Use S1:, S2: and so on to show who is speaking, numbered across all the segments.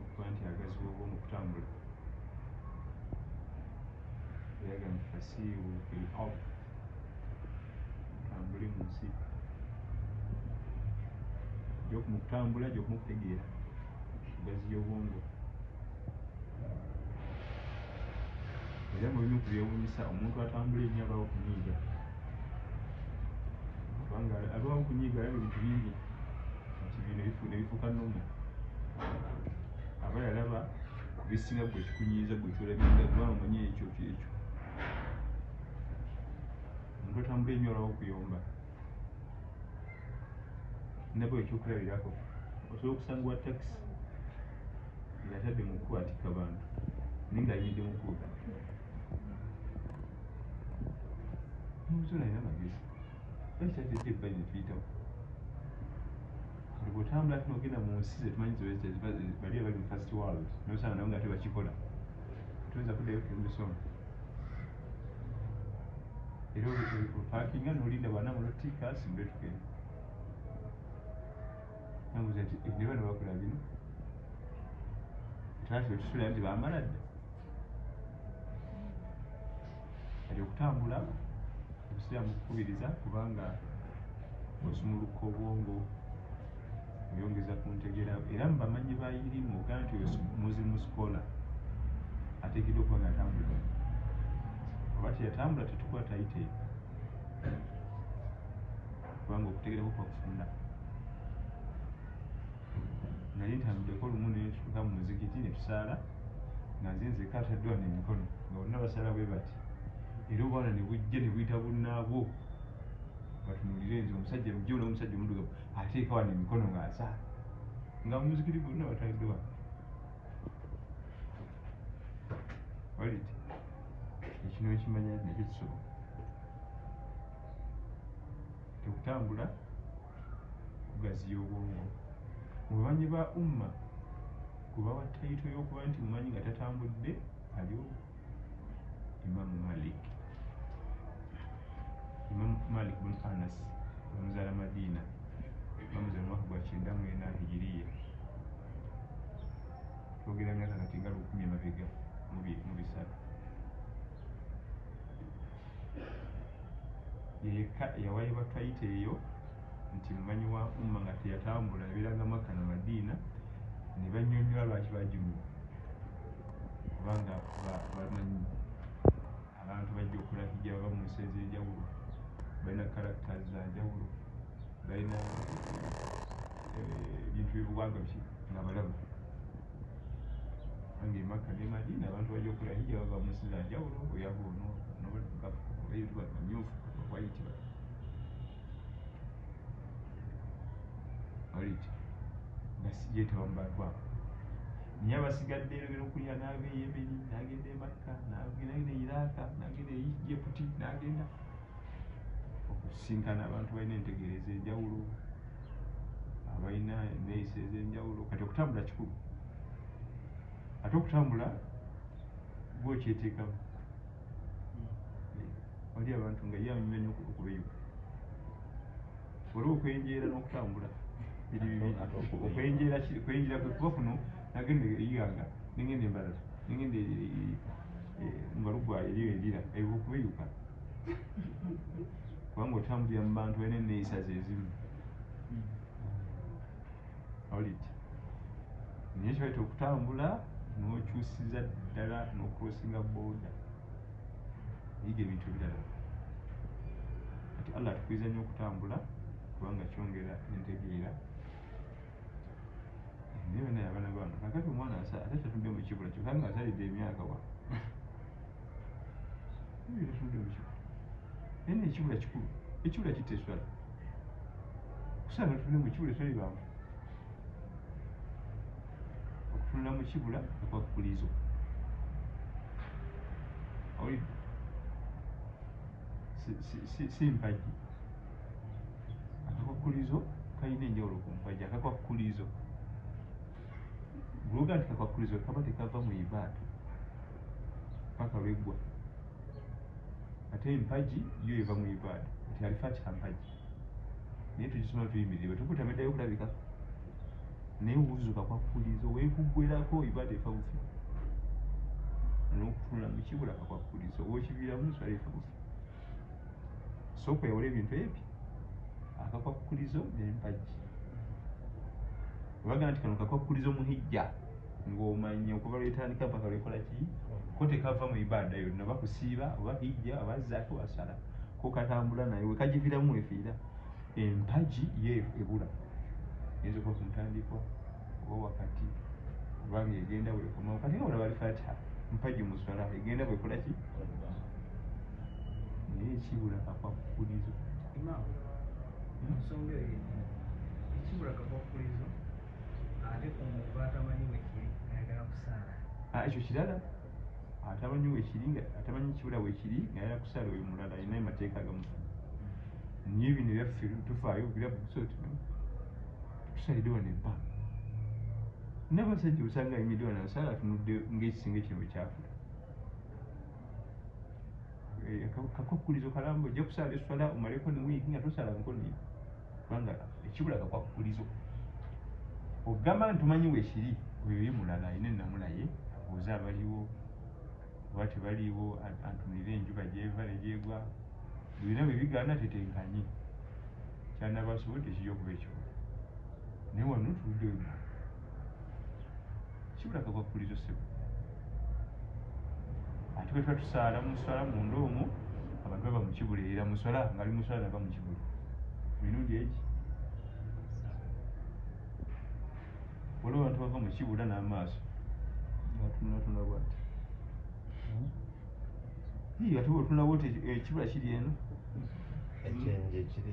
S1: okuba nti agaziwa obwo mu kutambula eraga nti fasiihu fil ard tambule mu nsi jokumutambula jokumukutegeera ogaziya obwongo era mu bimu ku byewuunyisa omuntu atambula ennyo abaawo kunyiiga kubanga abaawo kunyiiga alaba ebintu bingi nti bino ne bifuuka nomu aba yalaba ku bisinga gwe kikunyiiza gwe kyolabinga kuba omanyi ekyo kyekyo omuntu atambula ennyo olaba okuyomba nabwe ekyokulabirako osobola okusanga wa takisi ngatadde mu kukwatika bantu naye nga ayimidde mukuuta nomusolo alina magezi ekitatete ebbali netuyitawo bwotambula ati nogenda mu nsi zetumanyi bali abali mu first world nosanga nabo nga tebakikola tuyinza kuddayo kumisoma era olwekupakinga nolinda bana mulotika simbe tugenda namuza nti eh, nebana bakula bino twafe tusula nti bamala dda ali okutambula obusiraamu kukubiriza kubanga osumuluka obwongo Nyongeza ku ntegera era mu bamanyi ba irimu oga nti oyo muzimu sikola ateekeddwa okuba nga atambula oba teyatambula tetukuba tayite kubanga okutegera kukwa kufunda naye ntambudeko olumu netutuka mu muzikiti netusaala nga nze nzeka ataddwa nemikono nga bonna basaala bwe bati era obwana nebujja nebuyita bunnaabwo batunulire nze omusajja mujja ola omusajja omudugavu ateeka wano emikono ng'asaala nga muzikiri gonna batadde wano olit ekino ekimanya nakyo kisoboka tekutambula kugaziya obwongo mubamanyi ba umma kubawa tayito y'okuba nti mumanyi nga tatambudde aliwo imamu malik imamu malik bun anas omuzala madiina bamuzala omwaka gwa kyenda mwena hijiriya twogera myaka kati nga lukumi emabega mu bisatu yeyekka eyawayibwa twayita eyo nti mumanyi wa umma nga teyatambula ebeeranga makka na madiina ne bannyonnyola lwaki bagimuwa kubanga bamanyi abantu bajja okola hija baba mu nsi ez'enjawulo balina karakta za njawulo balina eh, ebintu byebuwanga nga balabu ange emakka ne madina abantu bajja okola hija baba mu nsi za njawulo oyaga ono nobaeamyufu waiti oliki basijetawa mubantu abo naye abasigadde yogera okulya naava e yemeni nagenda emakka nagenda e iraaka nagenda e yeputi nagenda okusinkana abantu balina entegeera ezenjawulo abalina eneyisa ezenjawulo kati okutambula kikulu ate okutambula gwe okyeteekamu wali abantu nga ye anyumya nyo okubeyuka waliwo okwenjeera n'okutambula biri bibi okwenjeera kwenjeera kwe kuba kuno nagenda eyiganga nengenda embalala nengenda e, e, e, mubalugwayo eriyo endira eyo okubeyuka kubanga otambulira mu bantu balina enneeyisa zezimu awulidde naye kibaita okutambula nokyusiza ddala nokrosinga boda yiga ebintu ebirala kati allah atukiriza nyo okutambula kubanga kyongera entegeera naye bana yabana bantu kakati omwana ate tatudde mukibula kyokanga azalidde emyaka wa naye nekibula kikulu ekibula kitta eswala kusala notunda mu kibula eswala ebanvu okutunda mu kibula okwakukulizo si mpagi akakwakulizo kalina enjawulo ku mpagi akakwakukulizo Bw'oga nti kakwakkulizibwa kaba tekava mu ibaada paka lweggwa ate empagi yo eva mu ibaada nti alifa kika mpagi naye tugisoma tuyimirire bwetukutameddayo okulabika naye wuzu kakwakkulizo wekuggwerako ibaada efa bufi n'okutunula mu kibula kakwakkulizo owokiviiramu nswala efa bufi sooka oyawula ebintu ebyo akakwakkulizo n'empagi Bagamba nti kano kakwakulizo mu hijja ng'omanyi okuva lwetandika mpaka lwekola ki ko tekava mu ibaada yonna oba kusiiba oba hijja oba zaka oba sala ko katambula naye wekagiviramu wefiira empagi ye ebula eyinza okuba ku ntandikwa oba wakati oba ng'egenda wekomawo kati nga olaba alifatiha mpagi mu swala egenda bwekola ki naye ekibula kakwakukulizo Ensonga
S2: eyo yennyini ekibula kavakkulizo ate ku muntu atamanyi wekiri ayagala
S1: kusaala. Ah, ekyo kirala atamanyi wekiri nga atamanyi kibula wekiri nga ayagala kusaala oyo mulala alinayo mateeka agamufu naye bino byaffe tufaayo birabu tusoti tusalide wano empa nabasajja osanga ayimidde wano asaala atunudde ngaekisenge kino bwekyafula Eh, kakwakukulizo kalamba ojja kusala eswala omaleko newiki nga tosalangako naye kubanga ekibula kakwakukulizo ogamba nti omanyi wekiri oyo ye mulala ayina enamulaye abuuza abaliwo oba tebaliwo antunire enjuba gyeva negyegwa byona byebigaana tetenkanye kyanabasobola tekija okuba ekibula naye wano tuludde wema kibulaga bwakkulizo sebo ate bwe tuba tusaala mu nswala munda omwo abantu baba mukibula era muswala ngaali muswala naba mukibula mirundi egi waliwo abantu bava mukibula n'amaaso atunulatunula bwati hmm? ate bwotunula bwoti ekibula eh, kiri eno ekyenje
S3: kiri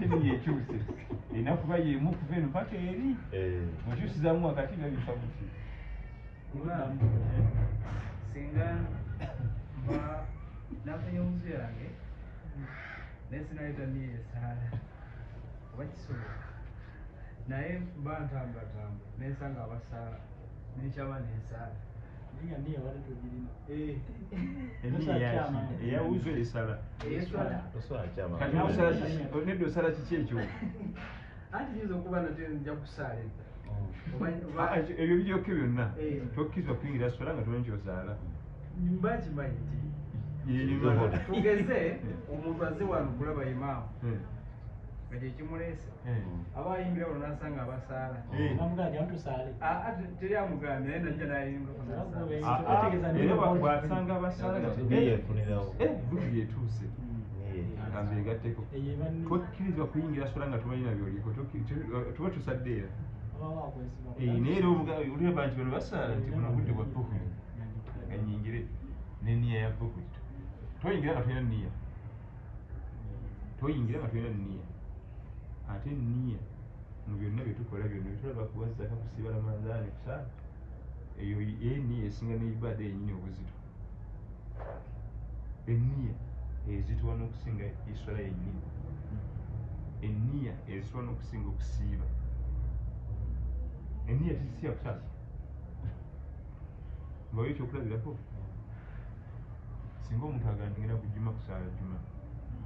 S1: seniya ekyuse erina kuba yemu okuva eno paka eri mukyusizamu eh. wakati nga bifa muki
S2: singa mba nafunye omusu yange naye sinayita niyo esaala oba kisobola naye mba ntambulatambula nensanga abasaala nenkyaba nensaala
S1: eyawuzo esala nedda osala kiki ekyo anti
S2: kiyinza okuba nate nja kusaala edda
S1: oh. ah, ebyo bijoke byonna eh. tokkirizwa kuyingira sola nga tolonki ozaala mba
S2: nkimanyi nti tugeze omuntu aze wano kulaba imaamu hmm. nga kyekimuleese eh. aba ayimbira
S1: olwo nasanga abasaala eh. ah, ah, teri amugambye naye najja nayingabwasanga ah, abasaalaeyetuuse agambye gatteko tokkirizibwa kuyingira sola nga tubalina byoliko tuba tusadde era eh, naye era oliraba nti bano basaala nti buno budde bwa buku nga nyingire neniya ya buku toyingira nga tulina niya toyingira nga tolina niya ate niya mu byonna byetukola byonna byetulaba kuwazaka kusiba ramadhani kusaa eyo eniya esinga neibada yenyini obuzito eniya ezitwa nokusinga eswala yenyini eniya ezitwa nokusinga okusiiba eniya tezisiya kusasa mbawo ekyokulabirako singa omuntu agandingera ku juma kusaala juma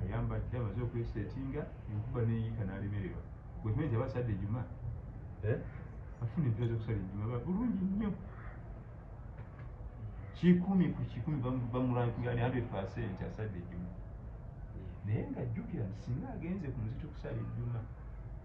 S1: ayamba dda amaze okwesetinga enkuba neyiika nalemererwa wekimanyi nti abasadde juma eh? afuna empira zokusala ejuma bulungi nnyo kikumi ku kikumi bamulankinga ni 100 percent asadde ejuma naye nga jjukira nti singa agenze ku muzito okusala ejuma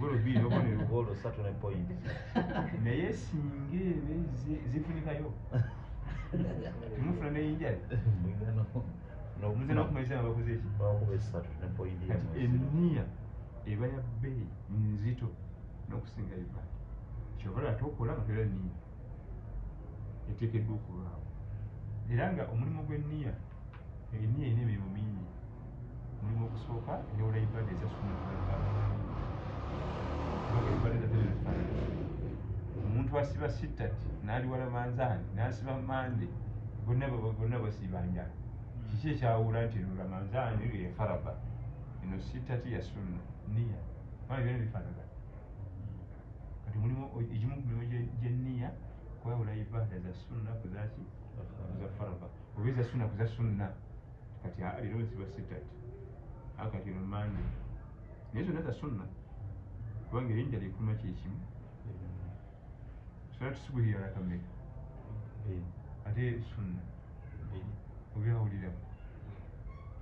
S1: golo bbiri nobonero golo satu ne point
S3: naye
S1: singa ebe zifunikayo mufuna neyinjali nze nokumaliza nga bakoze eki
S3: eniya
S1: eba ya bbeeyi nzito nokusinga uganda kyovala ate okola nga tola niya eteekeddwa okubaawo era nga omulimu gw'enniya enniya erina emirimu mingi omulimu ogusooka enewula ibada eza sunna omuntu asiba sittati n'aliwala manzaani n'asiba mande bonna bonna basiba njala kiki ekyawuula nti eno ramanzaani eyo yafaraba eno sittati ya sunna niya mwana byona bifaanagana kati mulimu egimu ku mirimu gyenniya kwawula ibada za sunna kuzaki za farda oba eza sunna kuza sunna kati leero nsiba sitat akati no mande naye zonna za sunna kubanga erinnya likuma kyekimu sola tusubuhi yalakameka ate sunna obyawuliramu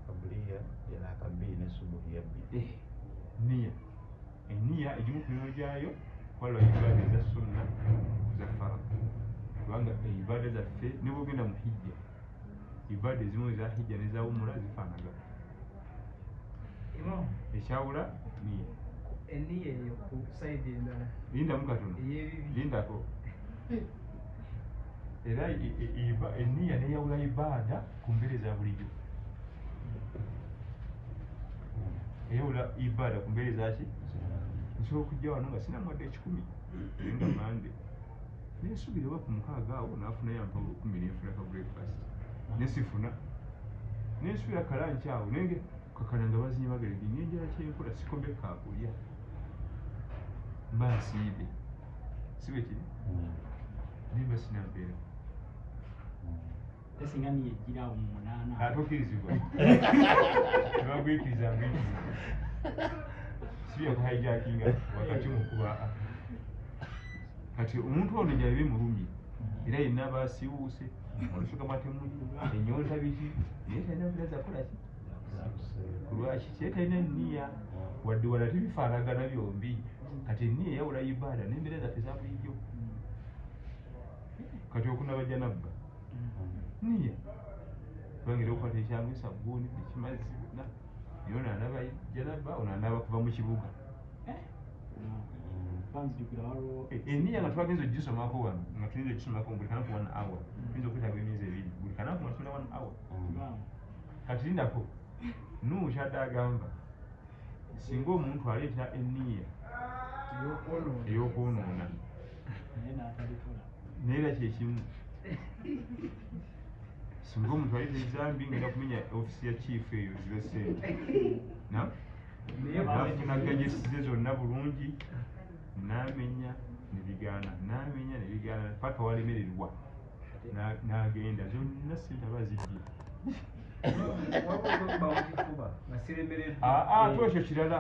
S3: kabuliya yalaka bbiri ne subuhi yabbi eh, niya
S1: Eniya egimu ku mirimu gyayo kwalwa ibaada eza sunna za fara kubanga ibaada zaffe ne bwogenda mu hijja ibaada ezimu eza hijja neza umura zifaanaga ekyawula niya eniya eyo ku saidi
S2: endala lindamu katono
S1: lindako era eniya neyawula ibaada ku mmere eza bulijjo era ola ibaada ku mbeere zaki nsobola okujja wano nga sina mwadde ekikumi nga mande nensubira oba ku mukaaga awo nafuna yampawula okumi nenfuna ka breakfast nesifuna nensubira kalanki awo naye kakana nga bazinya bagere ngenye enjala kyenkola sikombe kakulya mba nsiibe sibekiri mm. nimba sinampeera
S4: Tesinga niye jira awo mu munana. Atukirizibwa.
S1: Tebagwikiriza mbiki. Siya kuhijackinga wakati mu kuba kati omuntu ono gyali bimulumye era yenna aba asiwuuse olusuka matemuli enyonta biki naye talina bira zakolaki kulwaki kye talina niya wadde wala tebifaanagana byombi kati eniya eyawula ibaada nembeera zaffe zabulijjo kati okunabajja nabba niya bangira okwata ekyamu esabuuni ekimazzi na naye ono anaba janaba ono anaba kuva mu kibuga eh? eh, eniya nga twagenza ogisomako wano nga tuyinza ogisomako buli kanaku one hour mm. tuyinza okwetaaga emyezi ebiri buli kanaku nga tuna one hour mm. kati lindako nuhu kyadde agamba singa omuntu aleeta eniya eyokwonoona naye era kyekimu singa omuntu ayita ezambi ngenda kumenya ofisi ya chief eyo zibe sente nafunagajesize zonna bulungi namenya nebigaana namenya nebigaana paka walemererwa n'agenda zonna sente aba zibbye ate ekyo kirala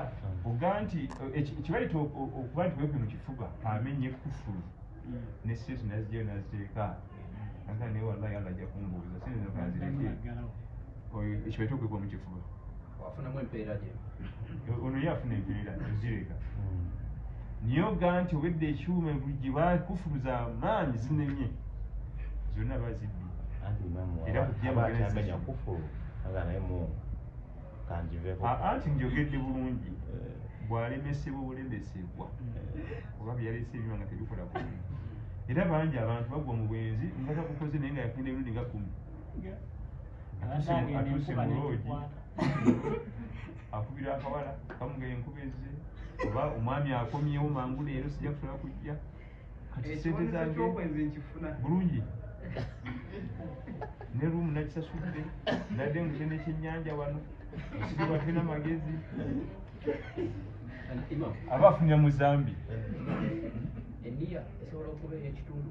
S1: oga nti ekibaleta okuba nti wepe mu kifuba amenye kufulu ne sente nazijayo naziteeka aga naye wallahi allah ajja kumbuuza sente zino kanzireke oyo ekyo ekyo kwekwa mukifuba wafunamu empeera
S5: gye ono ye
S1: afuna empeera zireka hmm. niye oga nti obedde ekyuma gye bakufuluza amaanyi zinenye zonna bazibbi era kujaamanya
S3: kufulu aga naye mungu kanjiveko anti njogedde
S1: bulungi eh. bwalemesebwa obulemesebwa eh. oba byalese ebyuma nga tebikola ku era bangi abantu bagwa mu bwenzi nga takukoze naye nga yakenda emirundi nga kumi atuuse mu loogi akubira akawala kamuga enkuba ezze oba omwami akomyewo mangu leero sijja kusola kujja kati sente zange
S2: bulungi
S1: ne rumu nakisasudde nadde ngute nekyenyanja wano sibate na magezi aba afunira mu zambi
S5: eniya esobola okubeera ekitundu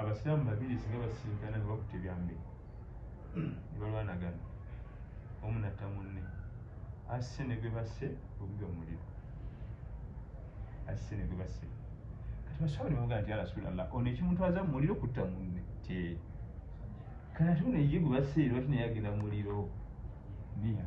S1: Abasiraamu babiri singa basisinkana nga bakutte byambe ne balwanagana omu natta munne asse ne gwe basse ogugwa muliro asse ne gwe basse kati basaba ne bamugaa nti arasulallah ono ekimutwaza mu muliro kutta munne te kati ate ono ye gwe basse lwaki naye agenda muliro niya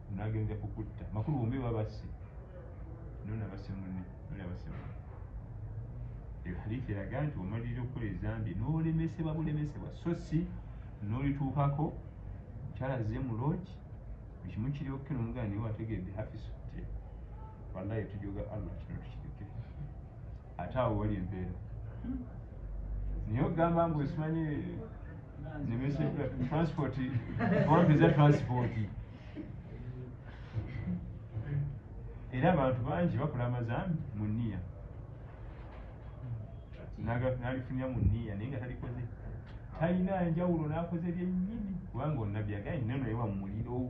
S1: Munage nja kukutta. Makulu bombi babasse. Nona basse munne. Nona basse munne. Eyo hadithi eraga nti omalirira okukola ezambi n'olemesebwa bulemesebwa so si n'olituukako mukyala azze mu loogi ekimu kiri okke nomugana niwe wategedde hafisu ti wallahi tujoga allah kino tukireke ate awo wali empeera naye ogamba mbu esimanyi nemese transport ompeza transport era abantu bangi bakola amazambi mu niya nalifunya mu niya naye nga talikoze talina njawulo nakoze byenyini kubanga onabyaga nenonewa mumuliro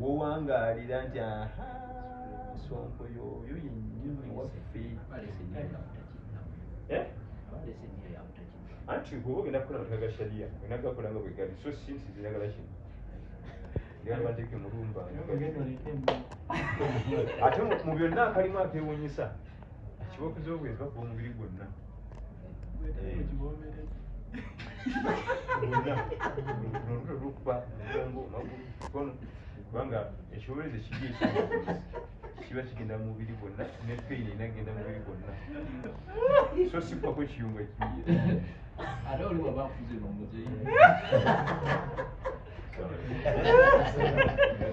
S1: wowangaalira nti aha sonko yoyo yenyini waffe eh? anti kuba ogenda kukola mataka ga sharia olina gakola nga bwegali so sinsi ziragala kino ate mu byonna akalimu akewunyisa Ekibooko ky'obwenzi bakuba omubiri gwonna. Olutwe lukuba omugongo, amagulu, emikono kubanga ekiboberezo ekibi ekyo kiba kigenda mu mubiri gwonna ne peyini erina kugenda mu mubiri gwonna. So si kuba kwekiyungo ekibi. Ate
S5: oli waba akuze n'omuzeeyi.